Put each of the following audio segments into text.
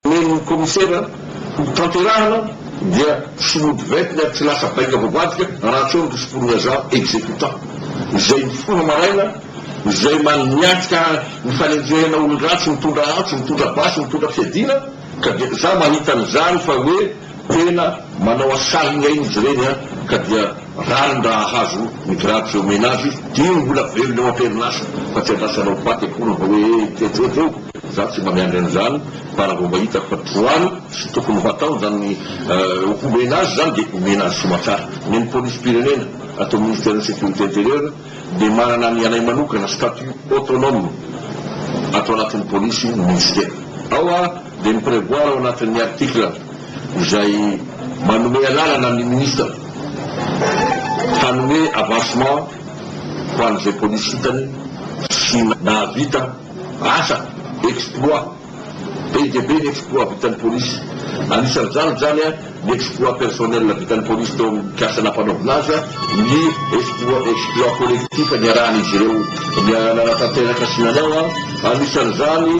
Omen'ny Kaomisera hotanterahana dia tsy mody ventina ary tsy lasa bainga voavadika raha tsy eo ny risim-polon'Agent Exécutant izay mifona maraina, izay maniatrika ny fanenjehana olon-dratsy mitondra antsy, mitondra basy, mitondra fiadiana ka dia za mahita an'izany fa hoe. Tena manao asary ny ain'izy ireny an, ka dia rariny raha hahazo ny grade izay omena azy izy, dia iny mbola velona eo am-perinasa fa tsy andrasana hanao paty akory mba hoe tjojo eo, izaho tsy mba miandry an'izany fa raha vao mba hitako fa droit-ny sy tokony ho ataony izany homena azy izany dia omena azy soa aman-tsara. Ny an'ny polisim-pirenena ato amin'ny ministeran'ny sécurité intérieure, dia manana ny anay manokana, statut autonome, ato anatin'ny polisy ny minisitera. Ao a dia mi-prevoir ao anatin'ny article izay manome alalana ny minisitra hanome avancement ho an'izay polisy hitany sy nahavita asa, exploit, Be dia be ny exploit vitan'ny polisy. Anisan'izany izany ny exploit personnel vitan'ny polisy teo amin'ny mpiasa nampanaovina azy, ny exploit collectif niarahan'izy ireo nanatanteraka sy nanao, anisan'izany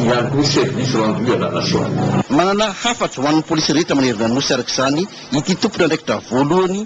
ihany koa ny service rendu à la nation. Manana hafatra ho an'ny polisy rehetra manerana ny Nosy araka izany ity tompon'andraikitra voalohany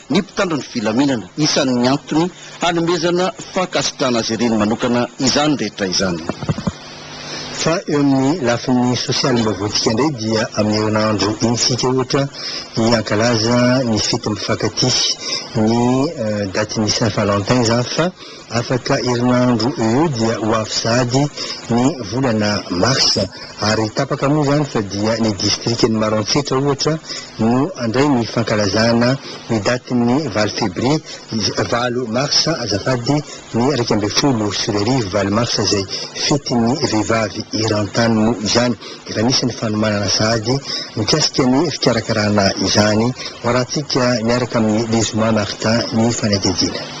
ny mpitandro ny filaminana. Isan'ny antony hanomezana fankasitrahana azy ireny manokana izany rehetra izany. Fa eo amin'ny lafiny sosialy mba voantsika indray dia amin'ny herinandro iny isika ohatra hiankalaza ny fety mifankatia, ny datin'ny Saint Valentin izany fa. Afaka herinandro eo eo dia ho avy sahady ny volana marsa ary tapaka moa izany fa dia ny distrikan'i Maroantsetra ohatra no handray ny fankalazana ny datin'ny valo febrie, valo marsa azafady, ny iraika ambin'ny folo sy roa arivo, valo marsa izay fetin'ny vehivavy eran-tany moa izany. Efa nisy ny fanomanana sahady mikasika ny fikarakarana izany. Hoarahantsika miaraka amin'i Lezoma Martin ny fanadihadiana.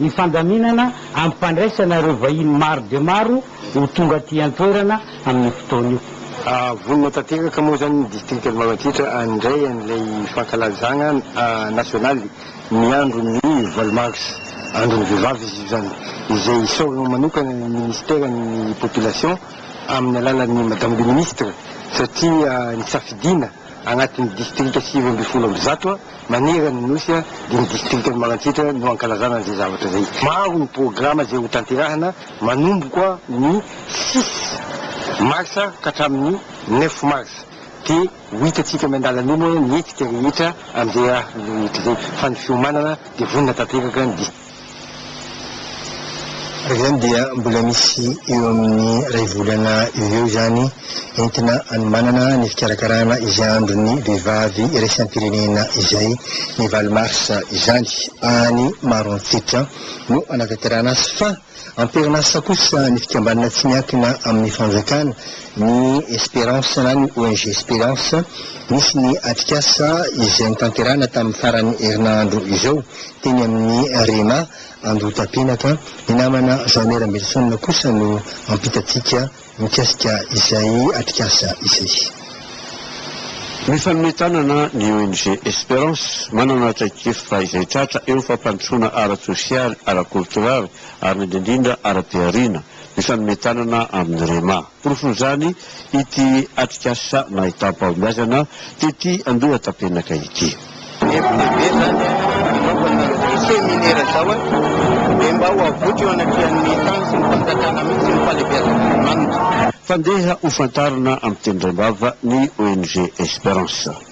ny fandaminana ampifandraisana ireo vahiny maro dia maro ho tonga aty an-toerana amin'io fotoana io. Vonona tanteraka moa izany ny distrikan'i Maroantsetra handray an'ilay fankalazana nasionaly ny andron'ny valo marsa, andron'ny vehivavy izy io izany, izay isaorana manokana ny minisiteran'ny Population amin'ny alalan'i Madame le Ministre satria nisafidiana Agnatin'ny distrika sivy ambin'ny folo amby zato manerana ny Nosy dia ny distrikan'i Malantsitra no ankalazana an'izay zavatra izay. Maro ny programa izay ho tanterahina manomboka ny six marsa ka hatramin'ny neuf marsa. Dia ho hitantsika miandalana eo moa ny hetsika rehetra amin'izay rehetra izay fa ny fiomanana dia vonona tanteraka ny distrika. Izany dia mbola misy eo amin'ny iray volana eo ho eo izany entina hanomanana ny fikarakarana izay andron'ny vehivavy iraisam-pirenena izay, ny valo marsa izany. Any Maroantsetra no hanatanterahana azy fa am-perinasa kosa ny fikambanana tsy miankina amin'ny fanjakana, ny Esperance na ny ONG Esperance. Nisy ny atrikasa izay notanterahina tamin'ny faran'ny herinandro izao Teny amin'ny Rema Andohatapenaka, ny namana Jean-Né Rambelison kosa no mampitantsika mikasika izay atrikasa izay. Mifanome tanana ny ONG Esperance, manana traikefa izay tratra eo amin'ny fampandrosoana ara-tsosialy, ara-koltoraly ary indrindra ara-pihariana. mifanome tanana amin'ny Rema. Porofon'izany ity atrikasa nahitam-pahombiazana tety Andohatapenaka ity. Hevitra be izany hanaovana an'izao seminera izao dia mba ho avotra eo anatrehan'ny tany sy ny fanjakana mihitsy ny fahalebiazan'Andriamanitra. Fandeha hofantarina amin'ny teny rembava ny ONG Esperance.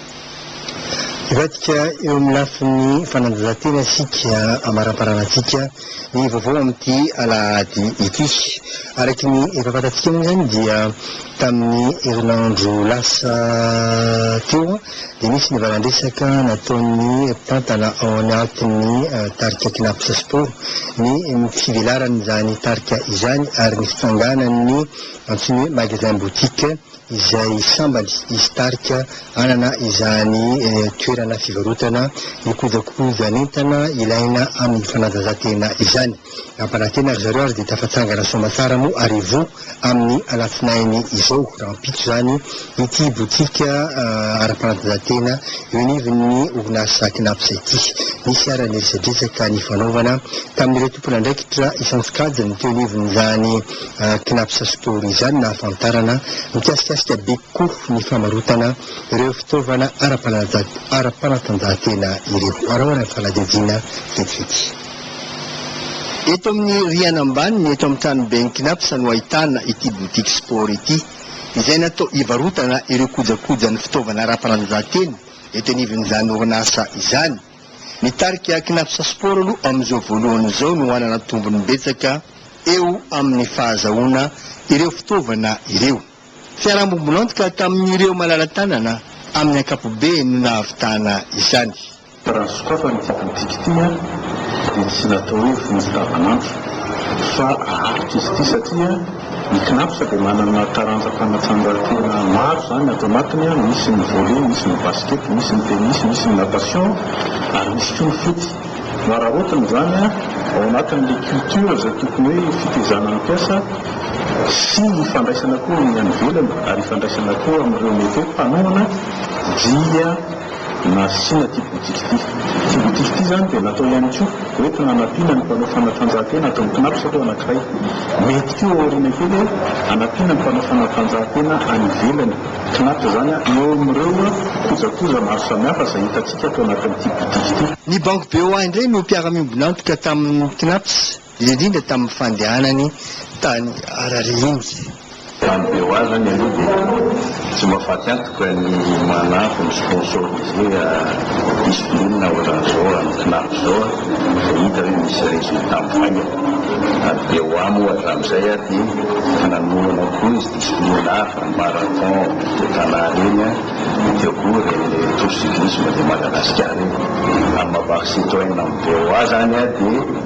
Hivadika eo amin'ny lafiny fanatanjahantena isika ambaramparana antsika ny vaovao amin'ity alahady ity. Araky ny efa fantatsika moa izany dia tamin'ny herinandro lasa teo dia nisy ny valandresaka nataon'ny mpitantana ao anatin'ny tarika Cnaps Sport ny fivelaran'izany tarika izany ary ny fitsanganan'ny antsoiny hoe magasin boutique izay sambany hisy tarika hanana izany toerana fivarotana ny kojakojan'entana ilaina amin'ny fanatanjahantena izany. Nampanantena ry zareo ary dia tafatsangana soamantsara moa Arivo amin'ny alatsinainy izao, rahampitso izany, ity botika ara-panatanjahantena eo anivon'ny orinasa Cnaps ity. Nisy ary ny resadresaka nifanaovana tamin'ireo tompon'andraikitra isan-tsokajiny teo anivon'izany Knapsa Store izany no nahafantarana mikasikasika be kokoa ny famarotana ireo fitaovana ara-panatanjahantena ireo. Araho ary amin'ny fanadihadiana vetivety. Eto amin'ny rihana ambany ny eto amin'ny tranoben'ny Knapsa no ahitana ity Boutique Sport ity izay natao hivarotana ireo kojakojan'ny fitaovana ara-panatanjahantena eto anivon'izany orinasa izany. Ny tarika Cnaps Sport aloha amin'izao voalohany izao no hanana tombony betsaka eo amin'ny fahazahoana ireo fitaovana ireo. Fiarambombon'antoka tamin'ireo malala-tanana amin'ny ankapobeny no nahavitana izany. Raha ny sokafana ity politika ity dia tsy natao hoe vonjy tavan'andro fa aharitra izy ity satria Ny CNAPS dia manana taranja fanatanjahantena maro izany ato anatiny, misy ny volley, misy ny basket, misy ny tennis, misy ny natation ary misy koa ny foot. No araraotiny izany ao anatin'ilay culture izay tokony hoe fitaizana ny mpiasa sy ny ifandraisana koa amin'ny any ivelany ary ifandraisana koa amin'ireo mety hoe mpanohana dia Nasiana ity boutique ity. Ity boutique ity izany dia natao ihany koa hoentina hanampiana ny mpanao fanatanjahantena ato amin'ny Cnaps aloha anankiray. Mety koa ao aoriana kely hoe hanampiana ny mpanao fanatanjahantena any ivelany. Cnaps izany eo amin'ireo kojakoja maro samihafa izay hitantsika ato anatin'ity boutique ity. Ny Banky BOA indray no mpiara-miombon'antoka tamin'ny Cnaps indrindra tamin'ny fandehanany tany Harare iny. Raha ny beo azo any aloha dia tsy mahafaty antoka ny manampy ny sponsoriser discipline ohatran'izao amin'ny Cnaps izao izay hita hoe misy resultat mivaingana. Ary BOA moa hatramin'izay ary dia efa nanorana koa izy discipline hafa, ny marathon de Tana ireny, dia teo koa ireny tour cyclisme de Madagascar ireny. Raha ny maha-baky citoyen amin'ny BOA izany dia.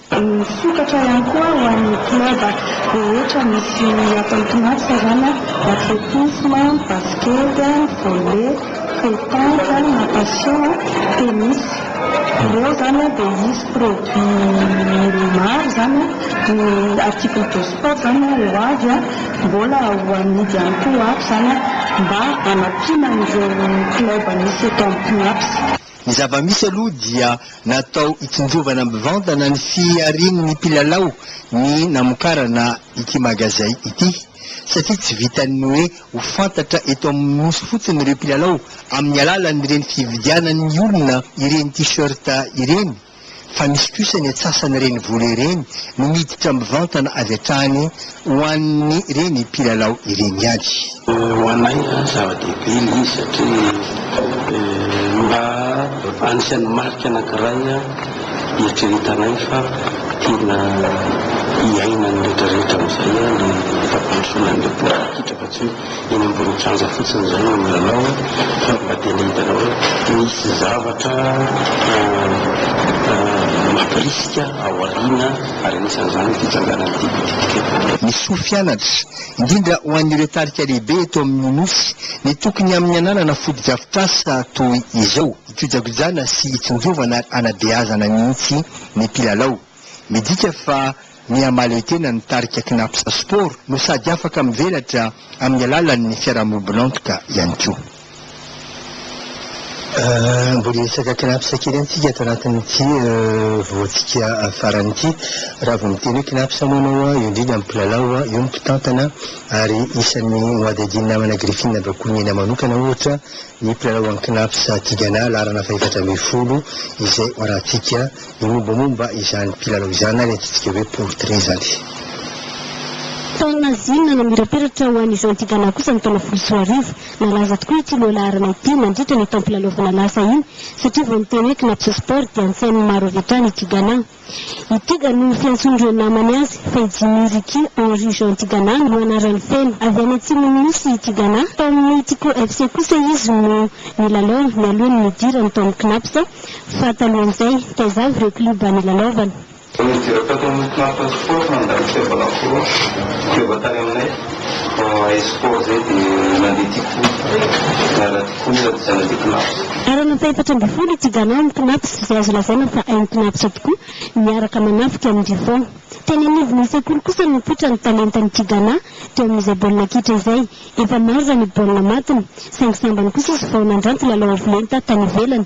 Misokatra ihany koa ho an'ny club rehetra misy ny ato amin'ny Toamasina izany, athlétisme, basket, volley, pétanque, natation, tennis. Ireo izany dia hisy produit maro izany, ny article de sport izany ho avy mbola ho amidy ihany koa ho avy izany mba hanampiana an'ireo club misy eto amin'ny Toamasina. Ny zava-misy aloha dia natao hitsinjovana mivantana ny fiharian'ny mpilalao ny namokarana ity magazay ity satria tsy vitan'ny hoe ho fantatra eto amin'ny Nosy fotsiny ireo mpilalao amin'ny alalan'ireny fividianan'ny olona ireny T-shirt ireny fa misy kosa ny antsasan'ireny vola ireny no miditra mivantana avy hatrany ho an'ny ireny mpilalao ireny ihany. Ho anay aloha zava-dehibe ilay izy satria mba anisan'ny marika anankiray hieritreretanay fa tena hiainan'ny rehetra rehetra amin'izay ilay fampandrosoana an'ilay baolina kitra fa tsy hoe eny ambony kianja fotsiny izay no milalao fa mba tena hitanao hoe misy zavatra mampirisika ao aoriana ary anisan'izany ny fitsanganan'ity bitika ity. Ny soa fianatra, indrindra ho an'ireo tarika lehibe eto amin'ny Nosy, dia tokony amin'ny ananana fotodrafitrasa toy izao, hikojakojana sy hitsinjovana ary hanabeazana mihitsy ny mpilalao. Midika fa Miha mahaleotena ny tarika Cnaps Sport no sady afaka mivelatra amin'ny alalan'ny fiarahamombon'antoka ihany koa. Mbola hiresaka Cnaps kely ihany tsika ato anatin'ity vohotsika farany ity. Raha vao miteny hoe Cnaps moa ianao, eo indrindra ny mpilalao, eo ny mpitantana ary isan'ny nohadihadian'ny namana Griffin Rakotoninena manokana ohatra, Ny mpilalao an'ny Cnaps Tigana laharana fahefatra ambin'ny folo izay hoarahantsika ny mombamomba izany mpilalao izany na ny antsointsika hoe portrait izany. Taona ziny nanamirapiratra ho an'i Jean Tigana kosa ny taona folo sy roa arivo. Nalaza tokoa ity lohalaharana ity nandritra ny taom-pilalaovana lasa iny satria vao niteny hoe Cnaps Sport dia notsain'ny maro avy hatrany i Tigana. I Tiga no fiantsoan'ireo namany azy, fa i Jimmy Ricky Henry Jean Tigana no anarany feno. Avy any Atsimon'ny Nosy i Tigana. Tao amin'ny Tico FC kosa izy no nilalao nialoha ny nidirany tao amin'ny Cnaps, fa talohan'izay, taiza avy ireo klioba nilalaovany? Vao nidirako tato amin'ny Cnaps Sport nandray ny fihavanako foron, fiova tany aminay, Espoir izay dia nandeha Tico. Arana fahefatra ambin'ny folo ity Ghana amin'ny Cnaps izay azo lazaina fa hain'ny Cnaps tokoa ny miaraka manafika amin'ny Buffon. Teny anivon'ny sekoly kosa no nipoitra ny talentan'ity Ghana teo amin'izay baolina kitra izay. Efa maro raha ny baolina matiny saingy sambany kosa izy vao nandranto lalao avo lenta tany ivelany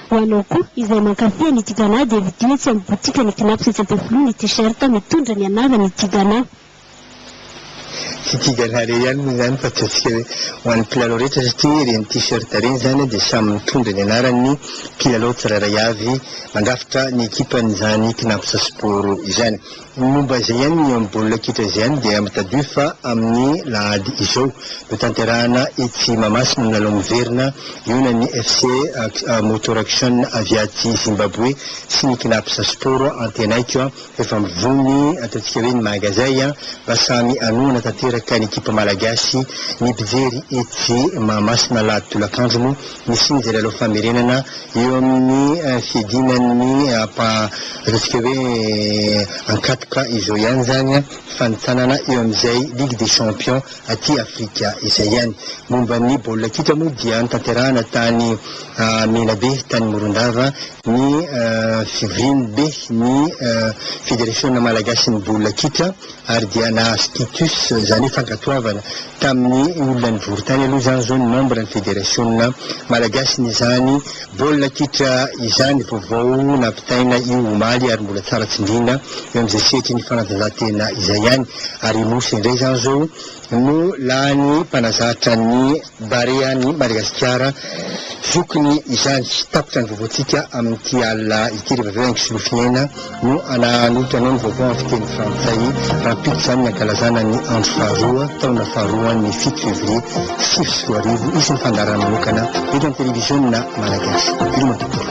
Ho anao koa izay mankafy an'i Tigana dia vidio etsy amin'ny botikan'i Knaps etsy Ampefiloha ny t-shirt mitondra ny anarany i Tigana. Tsy Tigana irery ihany moa izany fa ataontsika hoe ho an'ny mpilalao rehetra satria ireny t-shirt ireny izany dia samy mitondra ny anaran'ny mpilalao tsirairay avy mandrafitra ny ekipan'izany Knaps Sport izany. Ny momba izay ihany ny eo amin'ny baolina kitra izay ihany dia mitadiho fa amin'ny lahady izao no tanterahana etsy Mahamasina ny lalao miverina ionan'ny FC Motor Action avy aty Zimbaboe sy ny Cnaps Sport Antenaiko a! Efa mivony ataontsika hoe ny magazay a! Mba samy hanohana tanteraka ny ekipa malagasy ny mpijery etsy Mahamasina alahady tolakandro moa ny siny izay lalao famerenana eo amin'ny fiadiana ny hampa ataontsika hoe ankatoka izao ihany izany fanintsanana eo amin'izay ligue des champions aty Afrika izay ihany. Momba ny baolina kitra moa dia notanterahana tany Menabe tany Morondava ny fivorian'ny be ny federasiona malagasin'ny baolina kitra Ary dia nahazo Titus, izany hoe fankatoavana, tamin'ny olona nivory tany aloha izany izao ny membre ny federasiona Malagasy nizany baolina kitra izany vaovao nampitaina io omaly ary mbola tsara tsindriana eo amin'izay sehatry ny fanatanjahantena izay ihany ary i Mosy indray izany izao no lany mpanazatra ny Barea ny Madagasikara zokiny izany. Tapitra ny vaovaontsika amin'ity alina ity rehefa avy eo Aingso Lofiaina no hananolotra anao ny vaovao amin'ny fiteny frantsay rahampitso izany ny hankalazana ny andro faharoa taona faharoan'ny fito fevrier sivy sy roa arivo. Hisy ny fandaharana manokana eto amin'ny televiziona malagasy. Ireo matoa.